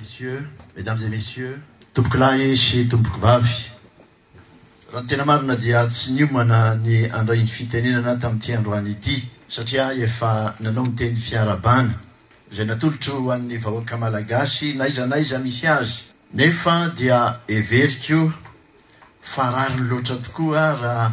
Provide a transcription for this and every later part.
Messieurs, Mesdames et Messieurs, Tompokolahy sy Tompokvavy, raha ny tena marina dia tsy niomana ny handray iny fitenenana tamin'ity androany ity satria ahy efa nanao ny teny fiarahabana izay natolotro ho an'ny vahoaka Malagasy n'aiza n'aiza misy azy, nefa dia heveriko fa rariny loatra tokoa raha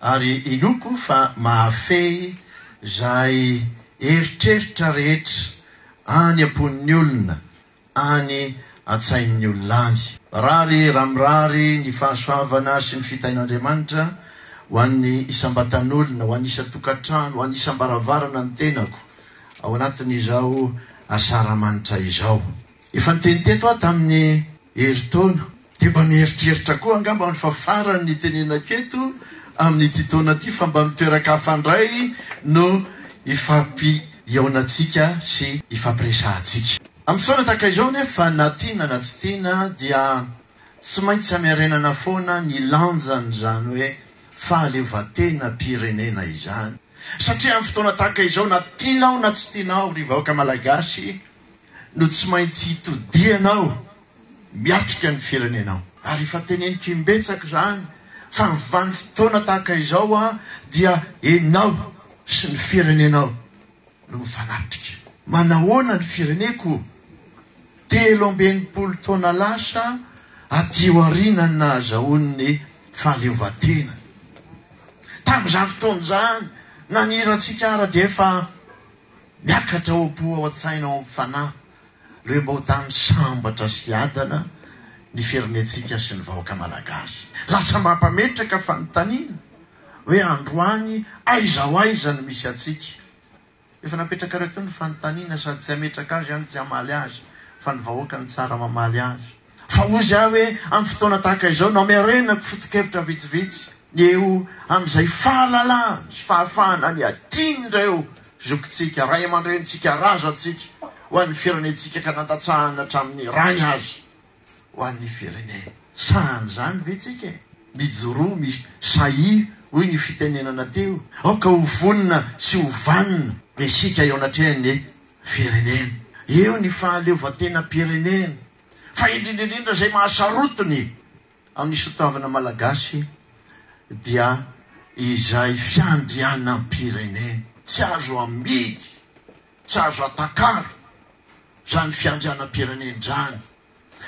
ary inoako fa mahafehy izay eritreritra rehetra any am-pon'ny olona, any an-tsain'ny olona any. Mirary ramirary ny fahasoavana sy ny fitahian'Andriamanitra ho an'ny isam-batan'olona, ho an'ny isan-tokantrano, ho an'ny isam-baravarana ny tenako ao anatin'izao asaramanitra izao. Efa niteny teto aho tamin'ny herintaona, dia mba mieritreritra koa angamba aho fa farany ny itenenako eto amin'ity taona ity fa mba mitoeran-kafa indray no ifampihaonantsika sy ifampiresahantsika. Amin'ny fotoana tahaka izao anefa na tiana na tsy tiana dia tsy maintsy hamerenana foana ny lanjan'izany hoe fahaleovantenam-pirenena izany satria amin'ny fotoana tahaka izao na tianao na tsy tianao ry vahoaka malagasy, no tsy maintsy hitodianao miatrika ny firenenao. Ary efa teneniko imbetsaka izany fa ny vanim-potoana tahaka izao an, dia enao sy ny firenenao no mifanatrika. Manahoana ny fireneko? Telo amby enimpolo taona lasa aty aoriana no nahazahoany ny fahaleovan-tenany. Tamin'izany fotoana izany, nanirantsika ara dia efa. Miakatra ao am-po, ao an-tsaina, ao amin'ny fanahy, lohim-bahotan'ny sambatra sy adana ny firenentsika sy ny vahoaka Malagasy. Lasa mampametraka fanontaniana hoe androany aiza ho aiza no misy antsika? Efa napetrakareo teo ny fanontaniana sady tsy hametraka azy any tsy hamaly azy fa ny vahoaka no tsara mamaly azy. Fa hoy izy ahy hoe, Amin'ny fotoana tahaka izao no hamerenako foto-kevitra vitsivitsy ny eo amin'izay fahalalahana sy fahafahana ny adinon'ireo zokintsika, ray aman-drenintsika, razantsika ho an'ny firenentsika ka nandatsahana hatramin'ny rany aza ho an'ny firenena. Sahan'ny izany ve tsika e? Mijoroa mi sahia hoy ny fitenenana teo, aoka ho vonona sy ho vanona isika eo anatrehan'ny. firenena. Eo ny fahaleovantenam-pirenena, fa indrindra indrindra izay mahasarotiny amin'ny sotoavina malagasy dia izay fiandrianam-pirenena. Tsy azo amidy, tsy azo atakalo izany fiandrianam-pirenena izany.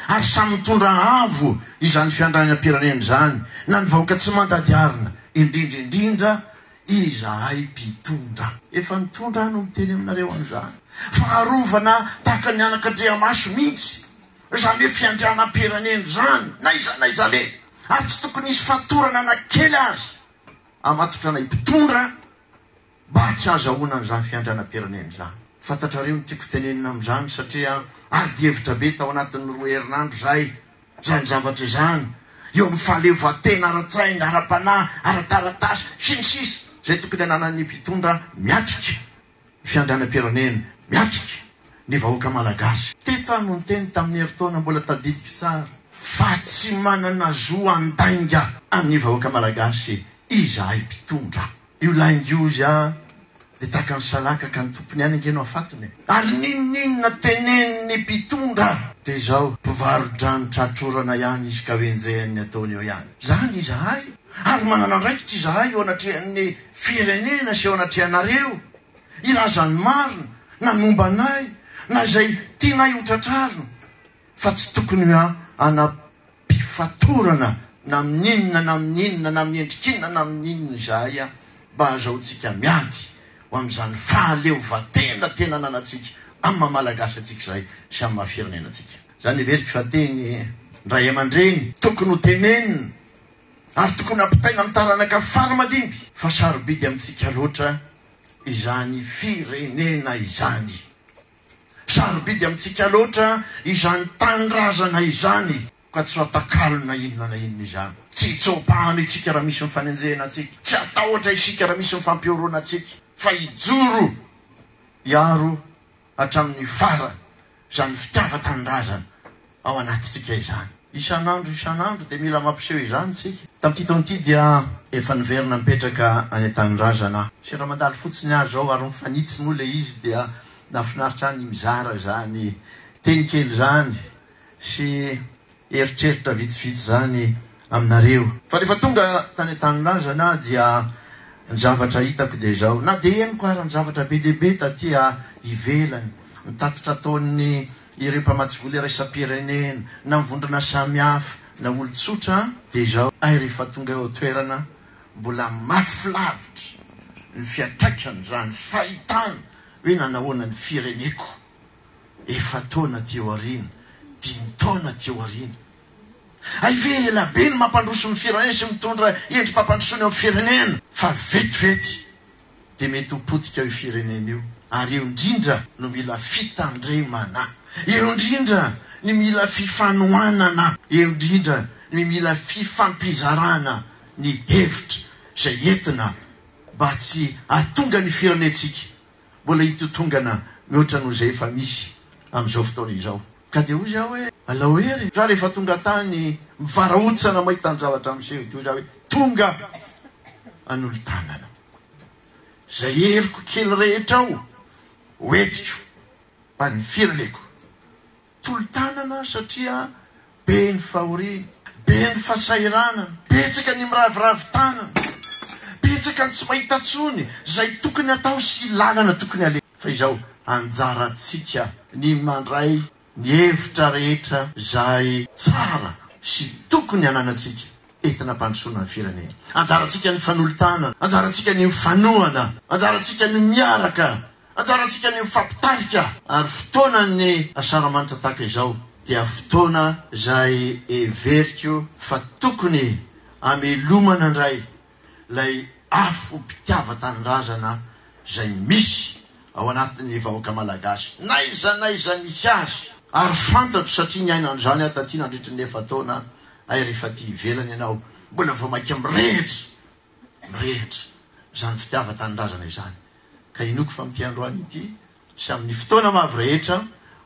ary samy mitondra avo izany fiandrianam-pirenena izany na ny vahoaka tsy mandady arina, indrindra indrindra izahay mpitondra. Efa nitondra aho no miteny aminareo an'izany, fa arovana tahaka ny anak'Andriamaso mihitsy izany hoe fiandrianam-pirenena izany n'aiza n'aiza aleha, ary tsy tokony hisy fatorana na kely aza hamatotra anay mpitondra Mba tsy ahazahoana an'izany fiandranam-pirenena izany. Fantatrareo ny tiako tenenina amin'izany satria adihevitra be tao anatin'ny roa herinandro izay izany zavatra izany, eo amin'ny fahaleovantena ara-tsaina, ara-panahy, ara-taratasy, sy ny sisa izay tokony ananan'ny mpitondra miatrika ny fiandranam-pirenena, miatrika ny vahoaka malagasy. Teto aho no niteny tamin'ny herintaona mbola tadidiko tsara fa tsy manana zo handainga an'ny vahoaka malagasy izahay mpitondra. Io lainga io hoy aho dia tahaka ny salaka ka ny tompony ihany ange no hafatony e! Ary n'inon'inona tenenin'ny mpitondra dia izao, mpivaro-drano tra-trorana ihany izy ka hoenjehan'ny ataony eo ihany. Izany izahay ary manana andraikitra izahay eo anatrehan'ny firenena sy eo anatrehanareo hilaza ny marina na momba anay na izay tianay ho tratrarina. fa tsy tokony hanam-pifatorana na amin'ny inona na amin'ny inona na amin'ny endrik'inona na amin'ny inona izahay mba hahazahoantsika miady ho amin'izany fahaleovantena tena ananantsika amin'ny maha Malagasy antsika izahay sy amin'ny maha firenena antsika. Izany heveriko fa teny ndray aman-dreny tokony ho tenenina ary tokony hampitaina amin'ny taranaka fara aman-dimby fa sarobidy amintsika loatra izany firenena izany. Sarobidy amintsika loatra izany tanindrazana izany ka tsy fatakalo na inona na inona izany. Tsy hitsoa-pano isika raha misy mifanenjehina antsika. Tsy hatahotra isika raha misy mifampihoroana antsika fa hijoro hiaro hatramin'ny farany izany fitiavan-tanindrazana ao anatintsika izany. Isan'andro isan'andro dia mila mampiseho izany isika. Tamin'ity taona ity dia efa niverina nipetraka any an-tanindrazana aho. Sendra mandalo fotsiny aho izao ary mifanitsy moa ilay izy dia nahafinaritra ahy ny mizara izany teny kely izany sy eritreritra vitsivitsy izany aminareo. Fa rehefa tonga tany an-tanindrazana aho dia ny zavatra hitako dia izao. Na dia henoko ary ny zavatra be dia be taty ivelany, ny tatitra ataon'ny ireo mpamatsy vola iraisam-pirenena na vondrona samihafa na olon-tsotra dia izao ay rehefa tonga eo an-toerana mbola mafy lavitra ny fiantraikan'izany fahitana hoe nanahoana ny fireneko efa-taona aty aoriana, dimy taona aty aoriana. Hay ve ela be ny mampandroso ny firenena sy mitondra endri-pampandrosoana eo amin'ny firenena fa vetivety dia mety ho potika io firenena io ary eo indrindra no mila fitandremana, eo indrindra ny mila fifanohanana, eo indrindra ny mila fifampizarana ny hevitra izay entina mba tsy hahatonga ny firenentsika mbola hitotongana mihoatra noho izay efa misy amin'izao fotoana izao. Ka dia hoy izaho hoe, Alao hery raha rehefa tonga tany Mivarahontsana mahita ny zavatra miseho ity hoy izaho hoe, Tonga hanolo-tanana izay heriko kely rehetra ao ho entiko any ny firaleko. Tolo-tanana satria be ny fahoriana, be ny fasahiranana, betsaka ny miraviravy tanana, betsaka ny tsy mahita tsony izay tokony atao sy lalana tokony aleha. Fa izao, anjarantsika ny mandray ny hevitra rehetra izay tsara sy tokony hananantsika entina hampandrosoana ny firenena. Anjarantsika ny fanolo-tanana, anjarantsika ny mifanohana, anjarantsika ny miaraka, anjarantsika ny mifampitarika. Ary fotoanan'ny Asaramanitra tahaka izao dia fotoana izay heveriko fa tokony hamelomana indray ilay afom-pitiavan-tanindrazana izay misy ao anatin'ny vahoaka malagasy, n'aiza n'aiza misy azy. Ary fantatro satria niaina an'izany aho taty nandritry ny efa-taona, hay rehefa aty ivelany ianao mbola vao mainka mirehitra, mirehitra izany fitiavan-tanindrazana izany. Ka inoako fa amin'ity androany ity, sy amin'ny fotoana mavy rehetra,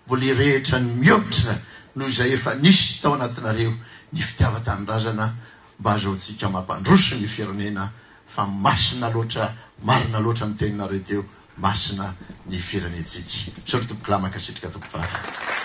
mbola hirehitra ny mihoatra noho izay efa nisy tao anatinareo ny fitiavan-tanindrazana mba hazahoantsika mampandroso ny firenena fa masina loatra, marina loatra ny teninareo teo, masina ny firenentsika. Misaotra Tompokolahy, mankasitrika Tompovavy.